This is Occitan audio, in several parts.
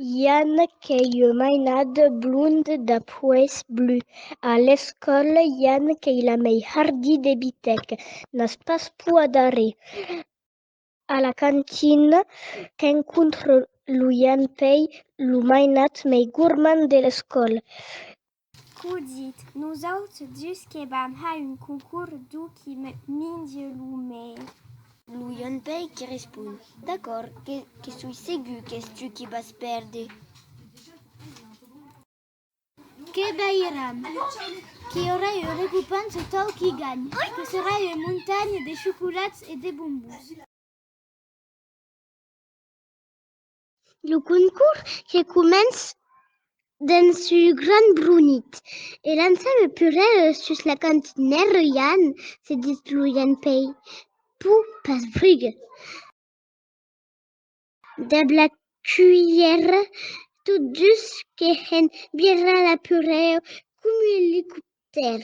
I a un qu'ei un mainad blond de poèis blus. A l'escòla i a un qu'ei la mei hardi de bitèc, n'as pas pur a darrèr. A la cantina qu'encontro lo i a un pei lo mainad mei gormand de l'escòla. Codit, nosaut dus que vam ha un concour d'u qui minge lo mei. Lo Ion Pei que respon, D'acòrd, que soi segur qu'es tu qui vas perde. Que veiram. Qu'i aurà un recopens o tau qui ganh, que serà un montanha de chocolats e de bombons. Lo concors que començ dens su gran brunit e lança lo purèr sus la cantinèr Ruian, se ditz Ruian pei pur pas Brugge. Dab la cuilhèra, tot dus que hèn virar la purèr comu elicoptèr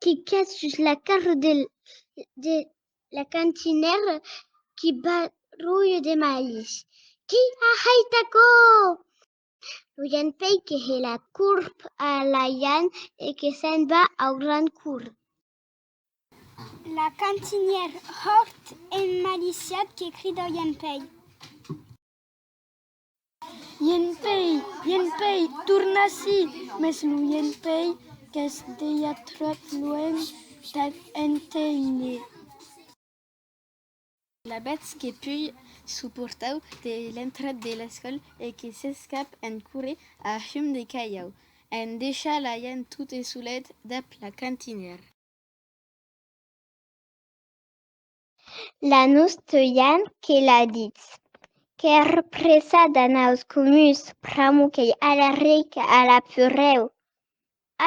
que cas sus la carro de La cantinèra qui barrulha de malhs. Qui a hait aquò? Lo Jan Pei que hè la corp a la Jan e que se'n va au gran cour. La cantinèra hòrt emmaliciat que crida au Jan Pei. Ienpei, ienpei, torna ací! Mès lo ienpei qu'es dejà tròp luènh per enténer. Alavetz que pui suportau de l'entrada de l'escòla e que s'escap en corre a hum de calhau, en deishar l'aian tote solet dab la cantinèra. la nos teuian que la ditz. Qu'èr presa d'anaus comuns pr'amo qu'ei a la rica, a la purreu.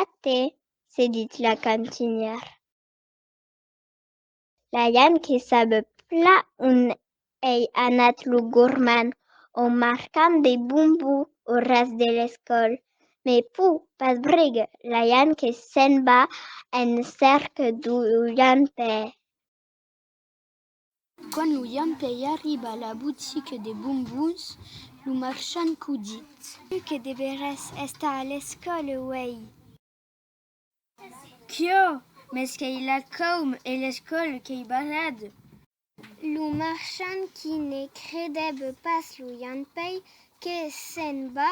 Até, se ditz la cantinièr. La ian que sabe pla on ei anat lo gorman o marcam de bombou o ras de l'escòl, me pô pas brigue, la ian que se'n va en cèrca d'o ian pè. Quand lo jampèi arriba a la botica de bombons, lo marchand qu'o dit. Tu que deveràs estar a l'escòla uèi. Quio! Mès qu'ei la caum e l'escòla qu'ei barrada! Lo marchand qui ne credèb pas lo jampèi que se'n va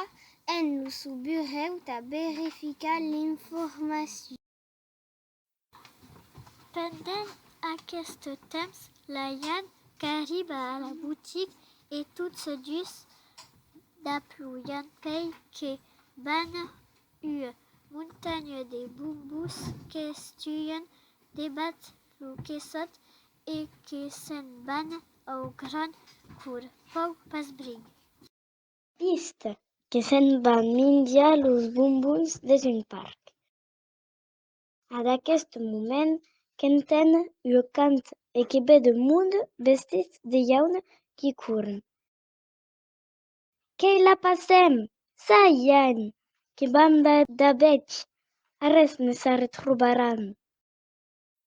en lo sou burèu tà verificar l'informacion. Pendent aqueste temps, la Jan qu'arriba a la boutique e tots dus daploian pei que van ua montanha de bombos qu'estuan debat lo quessot e que se'n van au grand cour, pau pas bring. Vist que se'n van minjar los bombons des un parc. A d'aquest moment qu'entén lo cant e que ve de mond vestits de jaun qui corren. Qu'ei la passèm! Ça i èn! Que banda d'abetz! Arrés ne s'arretrobaràn!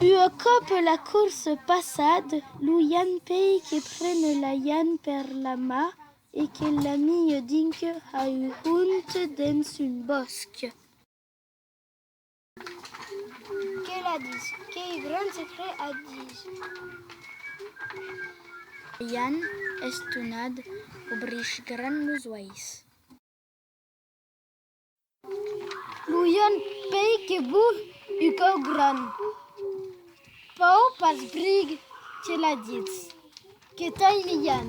Ua còp la corsa passad, lo Jan Pei que pren la Jan per la mà e que l'amiu dinc a un hont dens un bòsc. Que la dis? Qu'ei gran secret a dis? La Jan, estonad, obrís gran los uèis. Lo ion pei que vos u cau gran. Pau pas brig que la ditz. Que t'ai lian.